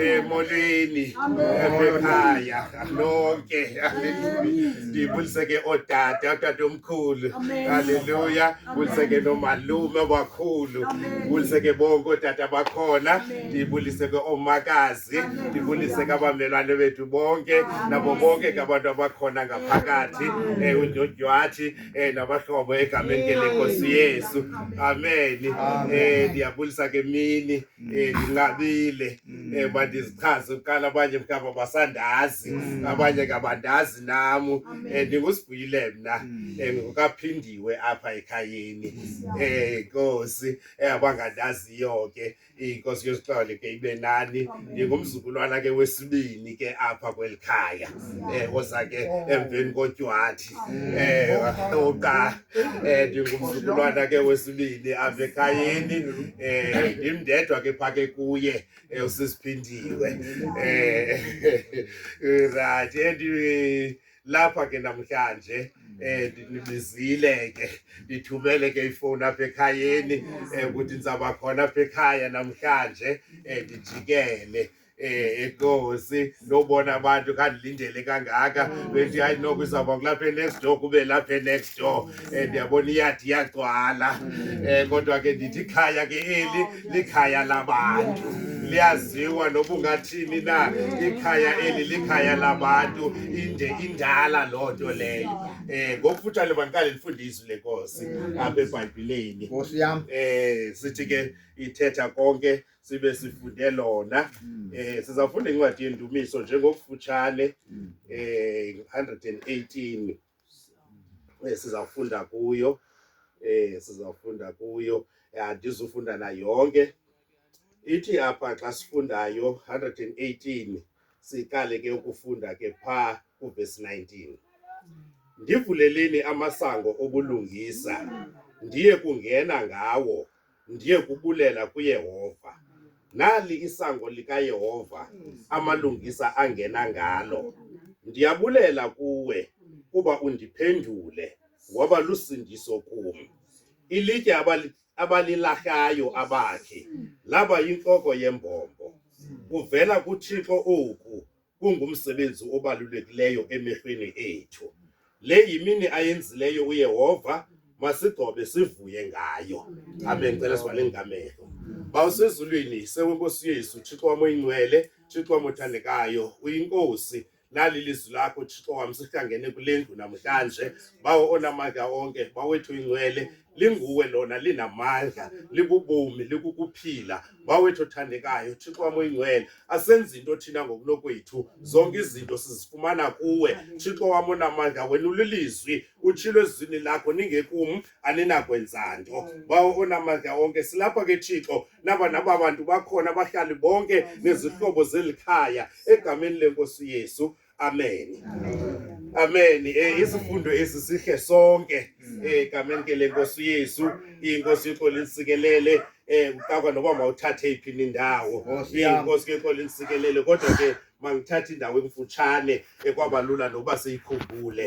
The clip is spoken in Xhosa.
emolweni ekhaya lonke ndibuliseke ootata otata omkhulu halleluya buliseke nomalume abakhulu buliseke bonke ootata bakhona ndibuliseke oomakazi ndibuliseke abamelwane bethu bonke nabo bonke ke abantu abakhona ngaphakathi eh, undyondywathi eh, nabahlobo egameni ke lenkosi yesu ameni eh, ndiyabulisa ke mini um ndinqabile um bandizichaze kuqala abanye mhlawumbi abasandazi mm. abanye ngabandazi nam um ndingusibhuyile mna um ngokaphindiwe apha ekhayeni um nkosi abangandaziyo ke inkosi yosixole ke ibe nani ndingumzukulwana ke wesibini ke apha kweli khaya um oza ke emveni kotywati um oqa Eh ndingumzukulwana ke wesibini apha ekhayeni eh ndim ndedwa ke phaa ke kuye eh, usisiphindiwe eh right and eh, lapha ke namhlanje eh ndinibizile ke ndithumele ke ifoni apha ekhayeni eh ukuthi ndizaba khona apha ekhaya namhlanje eh ndijikele eh enkosi ndobona abantu kandilindele kangaka mm. bethi hayi noko izawuba kulapha next door kube lapha next door um mm. eh, ndiyabona iyadi iyagcwala um mm. eh, kodwa ke ndithi ikhaya ke eli oh, likhaya labantu liyaziwa noba ungathini na ikhaya eli likhaya labantu inde indala loo nto leyo um ngokufutshane bandiqale ndifunde izwi lenkosi apha ebhayibhileni um sithi ke ithetha konke sibe sifunde lona mm. eh sizafunda incwadi yendumiso njengokufutshane mm. eh 118 eh sizafunda kuyo eh sizafunda kuyo eh, andizufunda na yonke ithi apha xa sifundayo 118 siqale ke ukufunda ke pha ku verse 19 ndivuleleni amasango obulungisa ndiye kungena ngawo ndiye kubulela kuyehova nali isango likayehova amalungisa angena ngalo ndiyabulela kuwe kuba undiphendule waba lusindiso kum ilitye abali- abalilahlayo abakhe laba yintloko yembombo kuvela kuthixo oku kungumsebenzi obalulekileyo emehlweni ethu. Le yimini ayenzileyo uYehova, masigcobe sivuye ngayo. Amen. Cela sivale ngamehlo. Bawusezulwini, sewenkosi yethu, Thixo wam oyingcwele, Thixo wam othandekayo, uyinkosi. lali lizwi lakho thixo wam sihlangene kule ndlu namhlanje bawo onamandla onke bawethu ingcwele linguwe lona linamandla likubumi likukuphila wawethu othandekayo thixo wam oyingcwele asenzi into thina ngokunokwethu zonke izinto sizifumana kuwe thixo wam onamandla wena ulilizwi utshilo ezwini lakho ningekum aninakwenza nto bawo onamandla onke silapha ke thixo naba naba bantu bakhona abahlali bonke nezihlobo zeli khaya egameni lenkosi yesu Amen. Amen. Amen. Eh isifundo esi sihle sonke mm. eh kamen ke lenkosi uYesu inkosi yikho linsikelele eh uqakwa noba mawuthathe iphi indawo oh, inkosi ke kho linsikelele kodwa ke mangithathe indawo emfutshane ekwabalula eh, noba siyikhumbule